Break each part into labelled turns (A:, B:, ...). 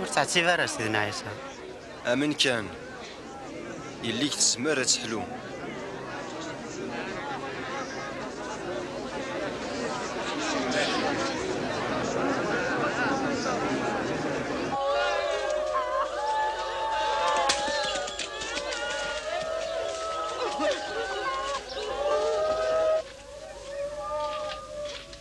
A: Ur ttɛettib ara s Sidna Ɛisa. Amen kan, yelli-k tezmer ad teḥlu.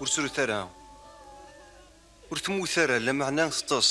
A: ur srut ara ur temmut ara lameɛna teṭṭes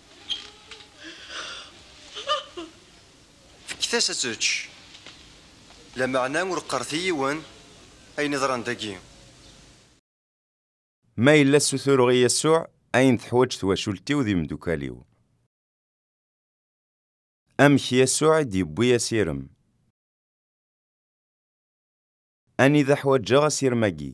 A: Fket-as ad tečč. Lameɛna ur qqaret i yiwen ayen iḍran dagi. Ma yella ssutureɣ i Yasuɛ ayen teḥwaǧ twacult-iw d imeddukal-iw. Amek Yasuɛ i d-yewwi asirem? Anida ḥwaǧeɣ asirem-agi?